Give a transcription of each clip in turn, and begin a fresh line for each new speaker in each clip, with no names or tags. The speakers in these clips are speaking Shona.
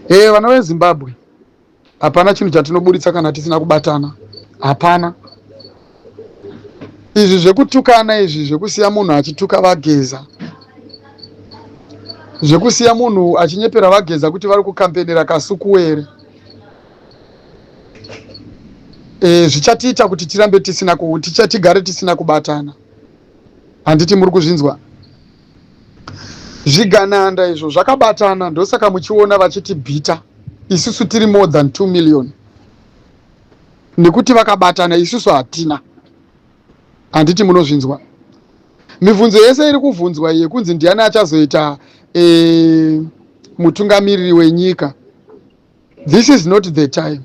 Hey, eh, vana vezimbabwe hapana chinhu chatinoburitsa kana tisina kubatana hapana izvi zvekutukana izvi zvekusiya munhu achituka vageza zvekusiya munhu achinyepera vageza kuti vari kukampenera kasukuwere e, zvichatiita kuti tirambe tisina tigare tisina kubatana handiti muri kuzvinzwa zvigananda izvo zvakabatana ndosaka muchiona vachiti bhita isusu tiri more than 2 million nekuti vakabatana isusu hatina handiti munozvinzwa mibvunzo yese iri kuvhunzwa yekunzi ndiani achazoita e, mutungamiriri wenyika This is not the time.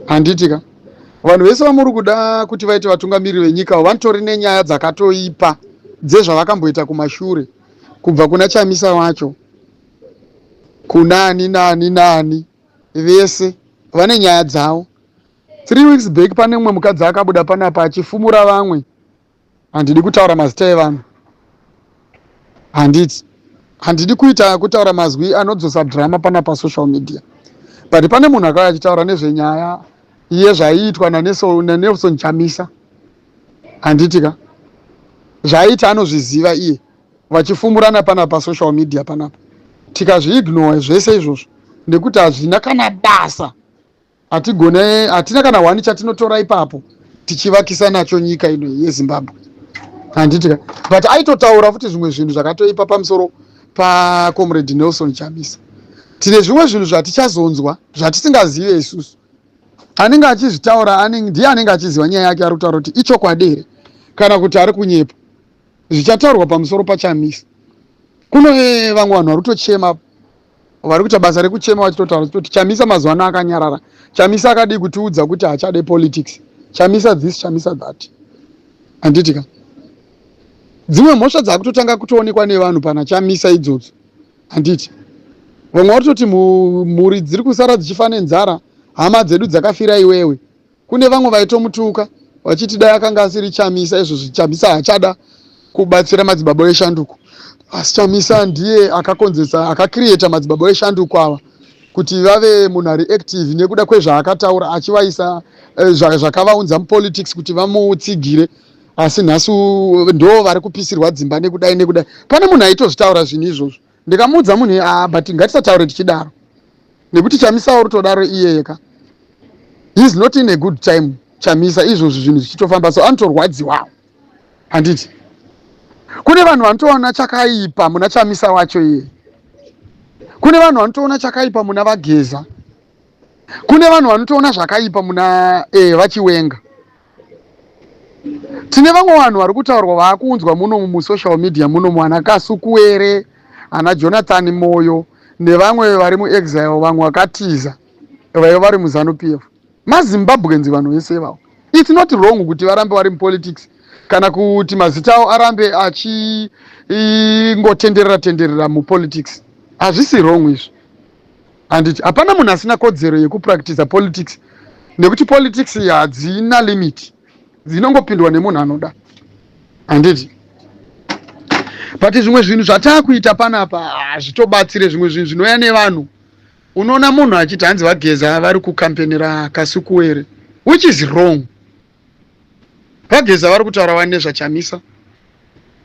Handiti ka? Vanhu vese vamuri kuda kuti vaite vatungamiriri venyika vanotori nenyaya dzakatoipa dzezvavakamboita kumashure kubva kuna Chamisa wacho kunani nani nani vese vane nyaya dzavo. Three weeks back pane mumwe mukadzi akabuda panapa achifumura vamwe Handidi kutaura mazita evanhu. Handiti. Handidi kuita kutaura mazwi anodzosa drama pana pa social media. But pane munhu akauya achitaura nezvenyaya iye zvaiitwa naNelson Chamisa. Handiti ka. Zvaiita anozviziva iye vachifumurana pana pa social media panapa. Tikazviignore zvese izvozvo nekuti hazvina kana basa. hatigone hatina kana hwani chatinotora ipapo tichivakisa nacho nyika ino yezimbabwe handiti ka but aitotaura futi zvimwe zvinhu zvakatoipa pamusoro pacomrade nelson chamisa tine zvimwe zvinhu zvatichazonzwa zvatisingazive isusu anenge achizvitaura ndiye anenge achiziva nyaya yake ari kutaura kuti ichokwadi here kana kuti ari kunyepa zvichataurwa pamusoro pachamisa kune vamwe vanhu vari kutochema vari kuita basa rekuchema vachitotaura chitoti chamisa mazuva ano akanyarara chamisa akadii kutiudza kuti hachade politics chamisa this chamisa that handiti ka dzimwe mhosva dzakutotanga kutoonekwa nevanhu pana chamisa idzodzo handiti vamwe vatoti mhuri dziri kusara dzichifa nenzara hama dzedu dzakafira iwewe Kune vamwe vaitomutuka vachiti dai akanga asiri Chamisa izvozvi Chamisa haachada kubatsira madzibaba eshanduko asi Chamisa ndiye akakonzesa akakiriyeta madzibaba eshanduko ava kuti vave munhu ari active nekuda kwezvaakataura achivaisa eh, zvakavaunza mupolitics kuti vamutsigire asi nhasi ndo vari kupisirwa dzimba nekudai nekudai pane munhu aitozvitaura zvinhu izvozvo Ndikamuudza munhu iye ah but ngatisataure tichidaro nekuti Chamisa uri todaro iyeye ka he is not in a good time Chamisa izvozvi zvinhu zvichitofamba so anotorwadziwawo handiti kune vanhu vanotoona chakaipa muna Chamisa wacho iye kune vanhu vanotoona chakaipa muna Vageza kune vanhu vanotoona zvakaipa muna eh, vachiwenga tine vamwe vanhu vari kutaurwa vaakuunzwa munomu musocial media munomu ana kasukuwere ana jonathan moyo nevamwe vari muexile vamwe vakatiza vaiva vari muzanu p f mazimbabwenzi vanhu vese ivavo its not wrong kuti varambe vari mupolitics kana kuti mazita avo arambe achingotenderera tenderera mupolitics hazvisi wrong izvi handiti hapana munhu asina kodzero yekupractiza politics nekuti politics hadzina limit dzinongopindwa nemunhu anoda handiti but zvimwe zvinhu zvataakuita panapa hazvitobatsire zvimwe zvinhu zvinouya nevanhu unoona munhu achiti hanzi vageza vari kukampenera kasukuwere which is wrong vageza vari kutaura vani nezvachamisa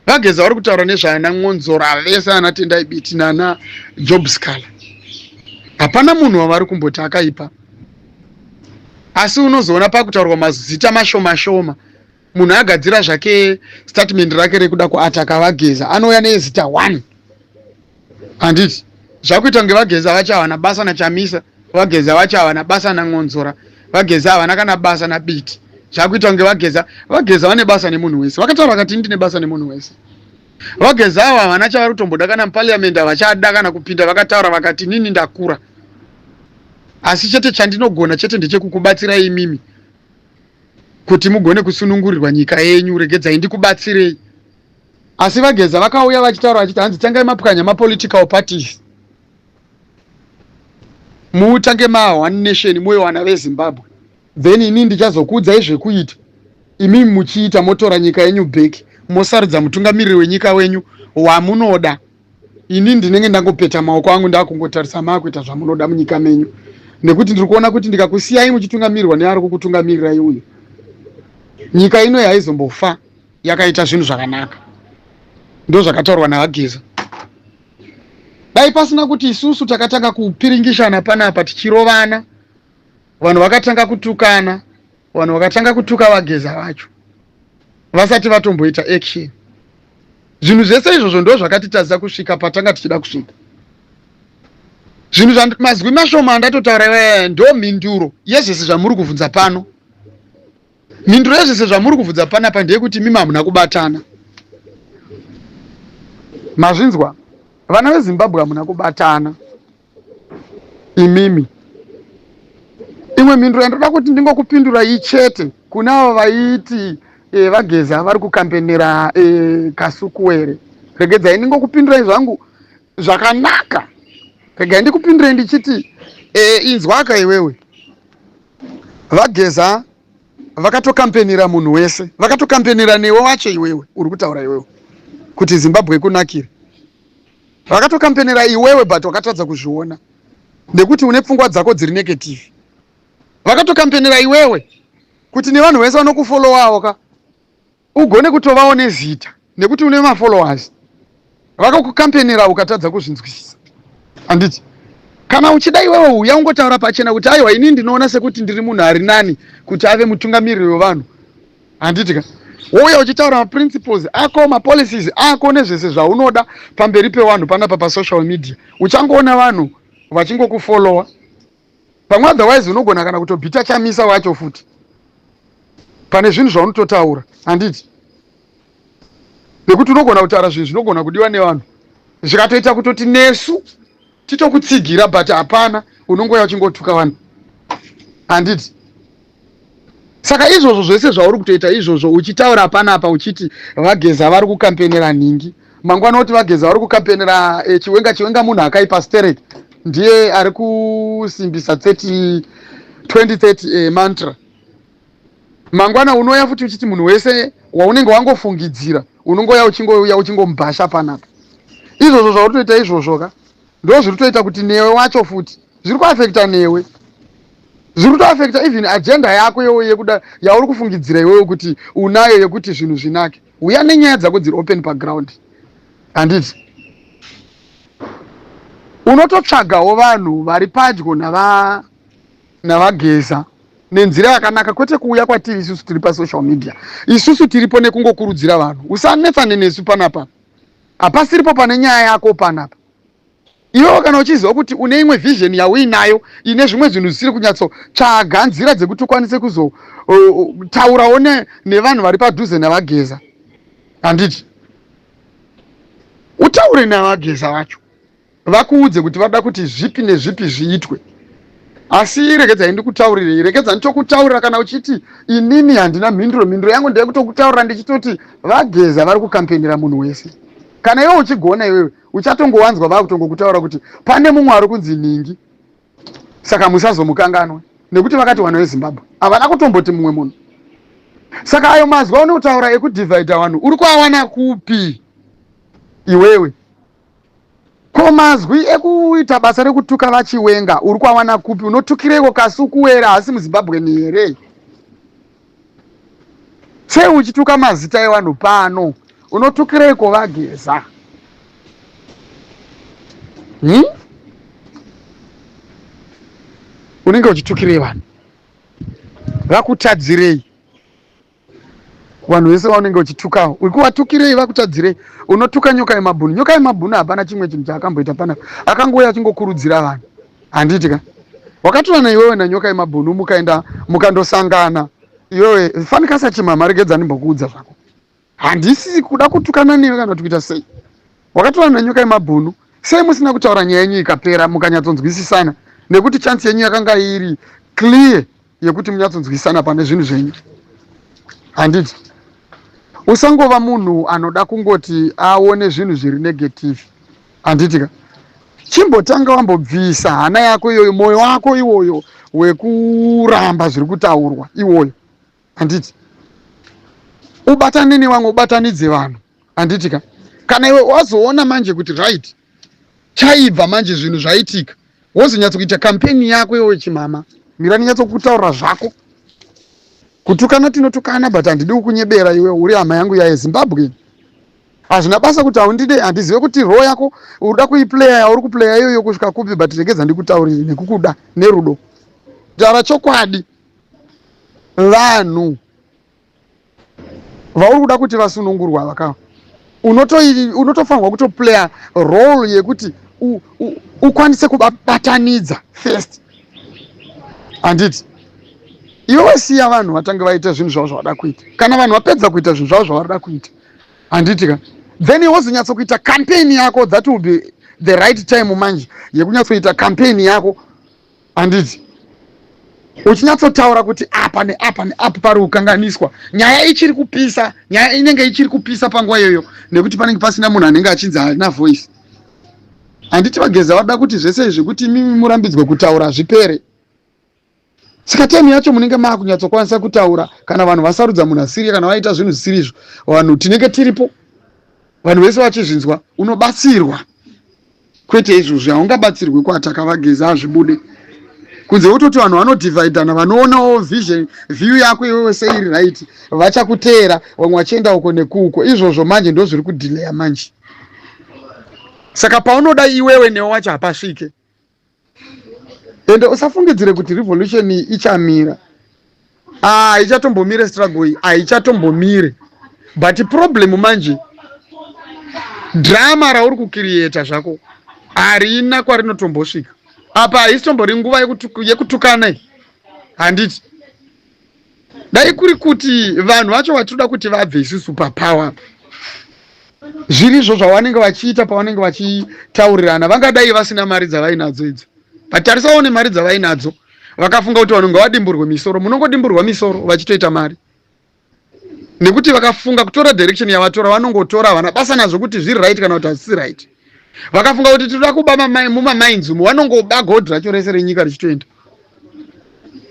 vageza vari kutaura nezvaana mwonzora vese ana tendai biti nana job scala hapana munhu wavari kumboti akaipa asi unozoona pakutaurwa mazita mashoma shoma munhu agadzira zvake statement rake rekuda kuataka vageza anouya nezita one handiti zvakuita kunge vagezi havachawana basa nachamisa vagezi havachawana basa nan'onzora vagezi havana kana basa nabiti zvakuita kunge vageza vageza vane basa nemunhu wese vakataura vakati ndine basa nemunhu wese vageza avo havana chavari kutomboda kana mupariamendi havachada kana kupinda vakataura vakati nini ndakura asi chete chandinogona chete ndechekukubatsirai imimi kuti mugone kusunungurirwa nyika yenyu regedzai ndikubatsirei Asi VaGeza vakauya vachitaura vachiti hanzi tangai mapwanya mapolitical parties mutange ma one nation muve vana vezimbabwe then ini ndichazokuudzai zvekuita imi muchiita motora nyika yenyu back mosarudza mutungamiriri wenyika wenyu wamunoda ini ndinenge ndangopeta maoko angu ndakungotarisa maakuita zvamunoda munyika menyu nekuti ndiri kuona kuti ndikakusiyai muchitungamirirwa neari kukutungamirirai uyu nyika ino yaizombofa yakaita zvinhu zvakanaka ndozvakataurwa nahageza dai pasina kuti isusu takatanga kupiringishana panapa tichirovana vanhu vakatanga kutukana vanhu vakatanga kutuka vageza vacho vasati vatomboita action zvinhu zvese izvozvo ndo zvakatitadza kusvika patanga tichida kusvika zvinhu mazwi mashoma andatotaura ivaya ndo mhinduro yezvese zvamuri kuvhunza pano Mhinduro yezvese zvamuri kuvhudza panapa ndeyekuti imimi hamuna kubatana. Mazvinzwa? Vana veZimbabwe hamuna kubatana imimi. Imwe mhinduro yandoda kuti ndingokupindura ichete kuna avo vaiti e, vageza vari kukampenera e, eh, kasukuwere regedzai ndingokupindurai zvangu zvakanaka regai ndikupindurei ndichiti e, inzwaka iwewe vageza vakatokampenira munhu wese vakatokampenira newe wacho iwewe uri kutaura iwewe kuti zimbabwe ikunakire vakatokampenira iwewe but wakatadza kuzviona nekuti une pfungwa dzako dziri negative vakatokampenira iwewe kuti nevanhu vese vanokufollowawo ka ugone kutovawo nezita nekuti une mafollowers vakakukampenera ukatadza kuzvinzwisisa handiti kana uchida iwewe uya ungotaura pachena kuti aiwa ini ndinoona sekuti ndiri munhu ari nani kuti ave mutungamiriri wevanhu handiti ka wouya uchitaura maprinciples ako mapolicies ako nezvese zvaunoda pamberi pevanhu panapa pasocial media uchangoona vanhu vachingokufollowa pamwe otherwise unogona kana kutobhita chamisa wacho futi pane zvinhu zvaunototaura handiti nekuti unogona kutaura zvinhu zvinogona kudiwa nevanhu zvikatoita kutoti nesu titokutsigira but hapana unongoya uchingotuka vanhu handiti saka izvozvo zvese zvauri kutoita izvozvo uchitaura panapa uchiti vageza vari kukampenera nhingi mangwana oti vageza vari kukampenera eh, chiwenga chiwenga munhu akaipa sterek ndiye ari kusimbisa 30 2030 eh, mantra mangwana unouya futi uchiti munhu wese waunenge wangofungidzira unongouya uchingouya uchingomubhasha panapa izvozvo zvauri kutoita izvozvo ka ndo zviri kutoita kuti newe wacho futi zviri kuafekta newe zviri kutoafekta even agenda yako yewo yekuda yauri kufungidzira iwewe kuti unayo yekuti zvinhu zvinake uya nenyaya dzako dziri open paground handiti unototsvagawo vanhu vari padyo navageza nenzira yakanaka kwete kuuya kwatiri isusu tiri pasocial media isusu tiripo nekungokurudzira vanhu usanetsane nesu panapa hapasiripo pane nyaya yako panapa Iwewo kana uchiziva kuti une imwe vision yauinayo ine zvimwe zvinhu zvisiri kunyatsotsvaga nzira dzekuti ukwanise kuzotaurawo uh, uh, nevanhu vari padhuze navageza handiti utaure navageza vacho vakuudze kuti vada kuti zvipi nezvipi zviitwe asi regedzai ndikutaurirei rekedza ndichokutaurira kana uchiti inini handina mhinduro mhinduro yangu ndeyekutokutaurira ndichitoti vageza vari kukampenera munhu wese kana iwe uchigona iwewe uchatongowanzwa vakutongokutaura kuti pane mumwe ari kunzi nhingi saka musazomukanganwe nekuti vakati vanhu vezimbabwe havana kutomboti mumwe munhu saka ayo mazwi aunotaura ekudivhaidha vanhu uri kuawana kupi iwewe ko mazwi ekuita basa rekutuka vachiwenga uri kuawana kupi unotukireiko kasi ukuwera hasi muzimbabweni here sei uchituka mazita evanhu pano unotukireiko vageza hmm? unenge uchitukirei vanhu vakutadzirei vanhu vese vaunenge uchitukawo ukuvatukirei vakutadzirei unotuka nyoka yemabhunu nyoka yemabhunu hapana chimwe chinhu chaakamboita pana akangouya achingokurudzira vanhu handiti ka wakatorana iwewe nanyoka yemabhunu mukaenda mukandosangana iwewe fanikasa chimama regedza ndimbokuudza zvako handisi kuda kutukana newe kana kuti kuita sei wakatorana nanyoka yemabhunu sei musina kutaura nyaya yenyu ikapera mukanyatsonzwisisana nekuti chansi yenyu yakanga iri clear yekuti munyatsonzwisana pane zvinhu zvenyu handiti usangova munhu anoda kungoti aone zvinhu zviri negative handiti ka chimbotanga wambobvisa hana yako iyoyo mwoyo wako iwoyo wekuramba zviri kutaurwa iwoyo handiti ubatane nevamwe ubatanidze vanhu handiti ka kana iwe wazoona manje kuti right chaibva manje zvinhu zvaitika wozonyatsokuita kampeni yako iwe chimama mira ndinyatsokuutaurira zvako kutukana tinotukana but handidi kukunyebera iwe uri hama yangu yaye zimbabwe hazvina basa kuti haundide handizive kuti roo yako uda kuiplaya yauri kuplaya iyoyo kusvika kupi but regedza ndikutaurire nekukuda nerudo taura chokwadi vanhu vauri kuda kuti vasunungurwa vaka unotofanirwa kutoplaya role yekuti ukwanise kubatanidza first handiti iwe wasiya vanhu vatange vaita zvinhu zvavo zvavada kuita kana vanhu vapedza kuita zvinhu zvavo zvavarida kuita handiti ka then wozonyatsokuita campaign yako that will be the right time manje yekunyatsoita campaign yako handiti uchinyatsotaura kuti apa neapa neapa pari kukanganiswa nyaya ichiri kupisa nyaya inenge ichiri kupisa panguva iyoyo nekuti panenge pasina munhu anenge achinzi haina voice handiti vageza vada kuti zvese izvi kuti imimi murambidzwe kutaura zvipere saka temu yacho munenge maakunyatsokwanisa kutaura kana vanhu vasarudza munhu asiri kana vaita zvinhu zvisiri izvo vanhu tinenge tiripo vanhu vese vachizvinzwa unobatsirwa kwete izvozvi haungabatsirwi kuataka vageza hazvibude kunze wototi vanhu vanodivhaidhana vanoonawo vision view yako iwewe seiri right vachakuteera vamwe vachienda uko nekuuko izvozvo manje ndo zviri kudhileya manje saka paunoda iwewe newe wacho hapasvike ende usafungidzire kuti revolution iyi ichamira haichatombomire ah, struggle iyi haichatombomire but problem manje drama rauri kukiriyeta zvako harina kwarinotombosvika apa haisitombori nguva yekutukana handiti dai kuri kuti vanhu vacho vatinoda kuti vabve isu super power zviri izvo zvavanenge vachiita pavanenge vachitaurirana vangadai vasina mari dzavainadzo idzo vatarisawo nemari dzavainadzo vakafunga kuti vanhu ngavadimburwe misoro munongodimburwa misoro vachitoita mari nekuti vakafunga kutora direction yavatora vanongotora havana basa nazvo kuti zviri right kana kuti hazvisi right vakafunga kuti tinoda kuba mamai mumamainzi umo vanongoba gold racho rese renyika richitoenda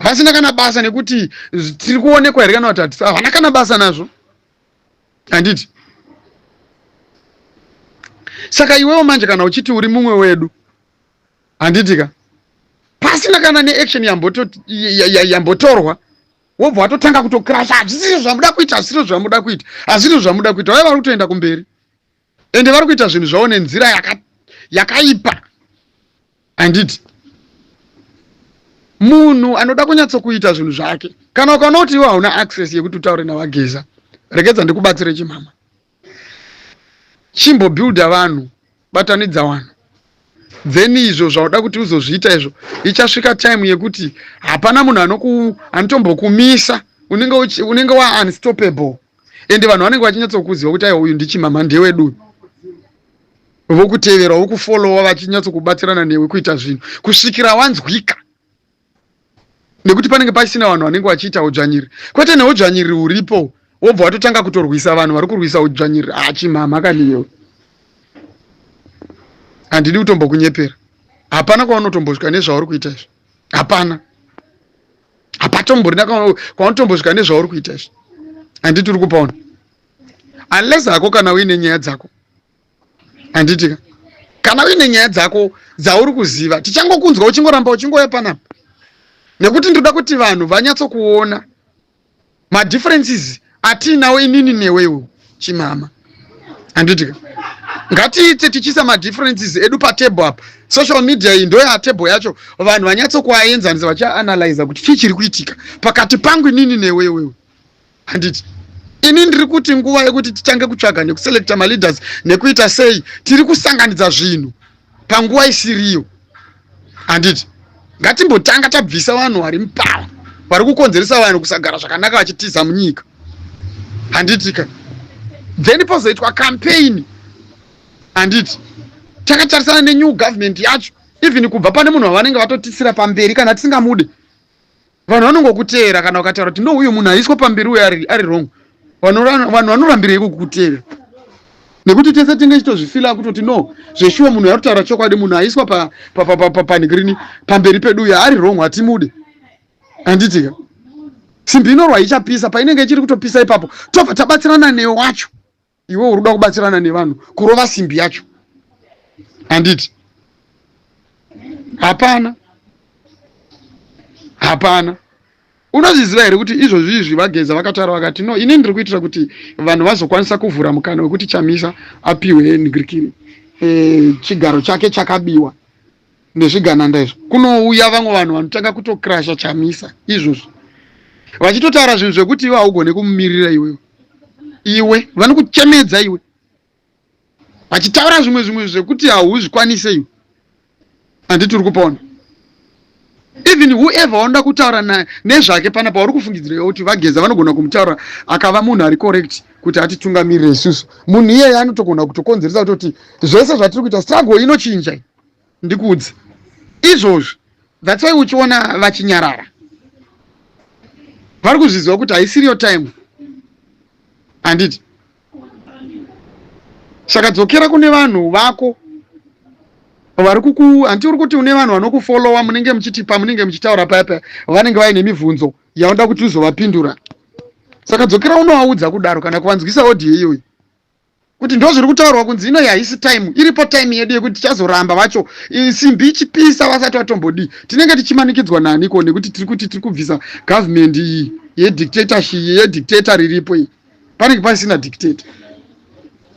vasina kana basa nekuti tiri kuonekwa here kana kuti hatisi havana kana basa nazvo handiti saka iwewo manje kana uchiti uri mumwe wedu handiti ka pasina kana neaction yambotorwa wobva watotanga kutokrasha hazvisizvo zvamuda kuita hazvisizvo zvamuda kuita hazvisizvo zvamuda kuita vaiva vari kutoenda kumberi ende vari kuita zvinhu zvavo nenzira yakaipa yaka handiti munhu anoda kunyatsokuita zvinhu zvake kana ukaona kuti iwe hauna access yekuti utaure navageza rekedza ndikubatsire chimama chimbobuilda vanhu batanidza vanhu then izvo zvauda kuti uzozviita izvo ichasvika time yekuti hapana munhu anotombokumisa unenge waunstoppable ende vanhu vanenge vachinyatsokuziva kuti aiwa uyu ndichimama ndewedu uyu vokutevera vokufolowa vachinyatsokubatsirana newe kuita zvinhu kusvikira wanzwika nekuti panenge pasina vanhu vanenge vachiita udzvanyiri kwete neudzvanyiri huripo wobva watotanga kutorwisa vanhu vari kurwisa udzvanyiri achimama ah, kaniyewe handidi kutombokunyepera hapana kwaunotombosvika nezvauri kuita izvi hapana hapatomborina kwaunotombosvika nezvauri kuita izvi handiti uri kupaona unless hako kana uine nyaya dzako handitika kana uine nyaya dzako dzauri kuziva tichangokunzwa uchingoramba uchingoya panapa nekuti ndoda kuti vanhu vanyatsokuona madifferences atiinawo inini newe iwo chimama handiti ngatiite tichiisa madifferences edu patable apa social media iyi ndoyatable yacho vanhu vanyatsokuaenzanisa vachianalyza kuti chii chiri kuitika pakati pangu inini newe iwewe handiti ini ndiri kuti nguva yekuti titange kutsvaga nekuselecta maleaders nekuita sei tiri kusanganidza zvinhu panguva isiriyo handiti ngatimbotanga tabvisa vanhu vari mupara vari kukonzeresa vanhu kusagara zvakanaka vachitiza munyika handitika then pozoitwa campaign handiti takatarisana nenew government yacho even kubva pane munhu wavanenge vatotisira pamberi kana tisingamude vanhu vanongokuteera kana ukataura kuti ndouyo munhu aiswa pamberi uyo ari, ari wrong vanhu vanorambirei kukuteera nekuti tese tinge chitozvifila kutoti no zveshuwa munhu arutaura chokwadi munhu aiswa panigrini pamberi pedu uyo ari wrong hatimude handitika simbi inorwa ichapisa painenge ichiri kutopisa ipapo tobva tabatsirana newe wacho iwe uri kuda kubatsirana nevanhu kurova simbi yacho handiti hapana hapana unozviziva here kuti izvozvi izvi vageza vakataura vakati no ini ndiri kuitira kuti vanhu vazokwanisa kuvhura mukana wekuti chamisa apiwe ngrikiri e, eh, chigaro chake chakabiwa nezvigananda izvo kunouya vamwe vanhu vanotanga kutokrasha chamisa izvozvo vachitotaura zvinhu zvekuti iwe haugone kumumirira iwewe iwe vanokuchemedza iwe vachitaura zvimwe zvimwe zvekuti hauzvikwanise iwe handiti uri kupona even whoever wanoda kutaura naye nezvake pana pauri kufungidzira kuti vageza vanogona kumutaura akava munhu ari correct kuti atitungamirire isusu munhu iyeye anotogona kutokonzeresa kutoti zvese zvatiri kuita struggle inochinja ndikuudze izvozvi that's why uchiona vachinyarara vari kuzviziva kuti haisiriyo time handiti saka dzokera kune vanhu vako vari kuku hanti uri kuti une vanhu vanokufollowa munenge muchiti pamunenge muchitaura paya paya vanenge vaine mibvunzo yaunoda kuti uzovapindura saka dzokera unovaudza kudaro kana kuvanzwisa audio iyoyi kuti ndo zviri kutaurwa kunzi inoyi haisi time iripo time yedu yekuti tichazoramba vacho simbi ichipisa vasati vatombodii tinenge tichimanikidzwa naniko nekuti tiri kuti tiri kubvisa gavhumendi iyi yedictatorship yedictator riripo iyi panenge pasina dictate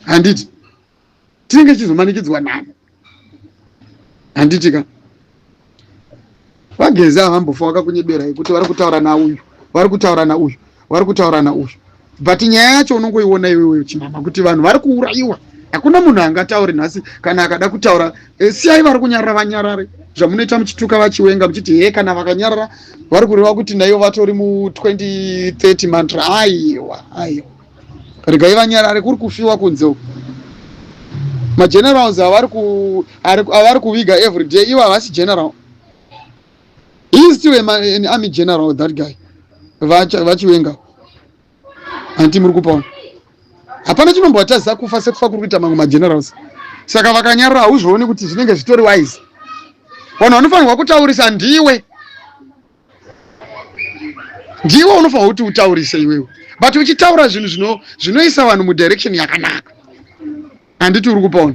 handiti tinenge tichizomanikidzwa nani handitika vagezi ava vambofa vakakunyebera yekuti vari kutaura nauyu vari kutaura nauyu vari kutaura nauyu but nyaya yacho unongoiona iwewe chinama kuti vanhu vari kuurayiwa hakuna munhu angataure nhasi kana akada kutaura Eh, siyai vari kunyarara vanyarare zvamunoita muchituka vachiwenga muchiti hee kana vakanyarara vari kureva kuti naivo vatori mu2030 mantra aiwa aiwa regai vanyarare kuri kufiwa kunze uku magenerals avari kuviga every day ivo havasi general he is still an army general that guy vachiwenga hanti muri kupaona hapana chinombovatadzisa kufa sekufa kuri kuita mamwe magenerals saka vakanyarura hauzvioni kuti zvinenge zvitori wise vanhu vanofanirwa kutaurisa ndiwe ndiwe unofanirwa kuti utaurise iwewe but uchitaura zvinhu zvinoisa vanhu mudirection yakanaka handiti uri kupaona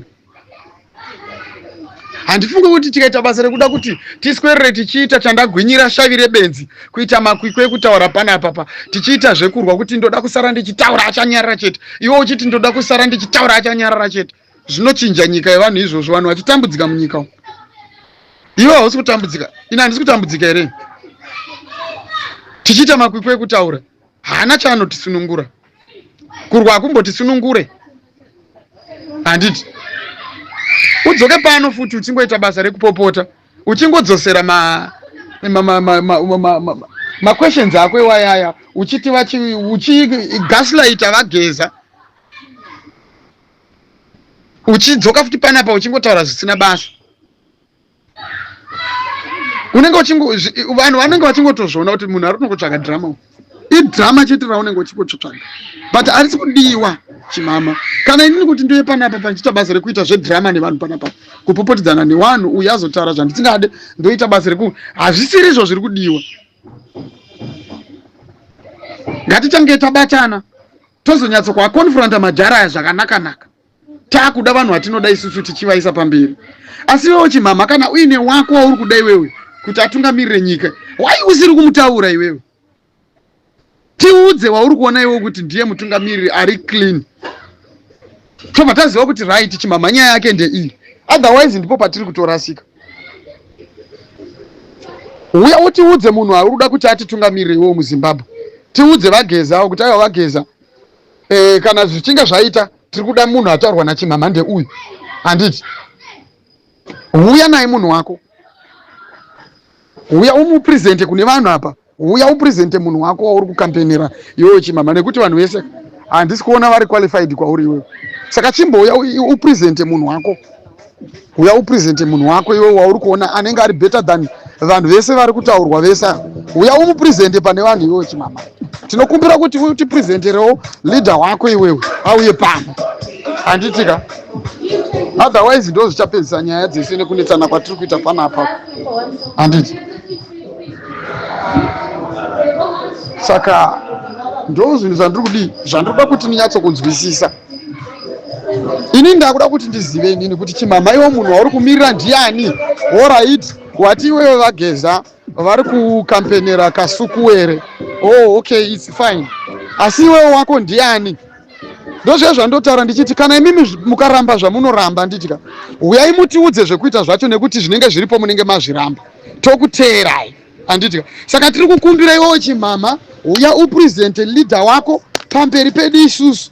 handifungi kuti tikaita basa rekuda kuti tiswerere tichiita chandagwinyira shavi rebenzi kuita makwikwi ekutaura panapapa tichiita zvekurwa kuti ndoda kusara ndichitaura achanyarara chete iwe uchiti ndoda kusara ndichitaura achanyarara chete zvinochinja nyika yevanhu izvozvo vanhu vachitambudzika munyika umu iwe hausi kutambudzika ini handisi kutambudzika here tichiita makwikwi ekutaura haana chaanotisunungura kurwa hakumbotisunungure handiti udzoke pano futi uchingoita basa rekupopota uchingodzosera ma ma ma ma ma ma ma ma maquestions ako iwayaya uchiti vachi uchi gaslighter vageza uchidzoka futi panapa uchingotaura zvisina basa unenge uchingo vanhu vanenge vachingotozviona kuti munhu ari kunongotsvaga drama uku idrama chete raunenge uchingotsvaga but arisi kudiwa chimama kana inini kuti ndiye panapa pandichiita basa rekuita zvedrama nevanhu panapa kupopotedzana newanhu uye azotaura zvandisingade ndoita basa reku hazvisiri izvo zviri kudiwa ngatitange tabatana tozonyatso kwakonfronta madhara aya zvakanakanaka takuda vanhu vatinoda isusu tichivaisa pamberi asi iwewo chimhamha kana uine wako wauri kuda iwewe kuti atungamirire nyika why usiri kumutaura iwewe tiudze wauri kuona iwewe kuti ndiye mutungamiriri ari clean tobva taziva kuti right chimhamha nyaya yake ndeiyi otherwise ndipo patiri kutorasika uya utiudze munhu auri kuda kuti atitungamirire iwewo muzimbabwe tiudze vageza kuti aiwa vageza e, kana zvichinge zvaita tiri kuda munhu ataurwa nachimhamhande uyu handiti huya naye munhu wako huya umupresente kune vanhu apa huya upresente munhu wako wauri kukampenera iwewe chimama nekuti vanhu vese handisi kuona vari qualified kwauri iwewe saka chimbouya upresente munhu wako uya upresente munhu wako iwe wauri kuona anenge ari better than vanhu vese vari kutaurwa vese uya umupresente pane vanhu iwewe chimama tinokumbira kuti utipresenterewo leader wako iwewe auye pano handitika otherwise ndo zvichapedzisa nyaya dzese nekunetsana kwatiri kuita pana apa handiti saka ndo zvinhu zvandiri kudii zvandiri kuda kuti ninyatsokunzwisisa ini ndakuda kuti ndizive inini kuti chimhamha iwo munhu wauri kumirira ndiani orit wati iwewe vageza vari kukampenera kasukuwere oh okay its fine asi iwewe wako ndiani ndozviya zvandotaura ndichiti kana imimi mukaramba zvamunoramba nditya huyai mutiudze zvekuita zvacho nekuti zvinenge zviripo munenge mazviramba tokuteerai anditya saka tiri kukumbira iwewo chimhamha uya upresente leader wako pamberi pedu isusu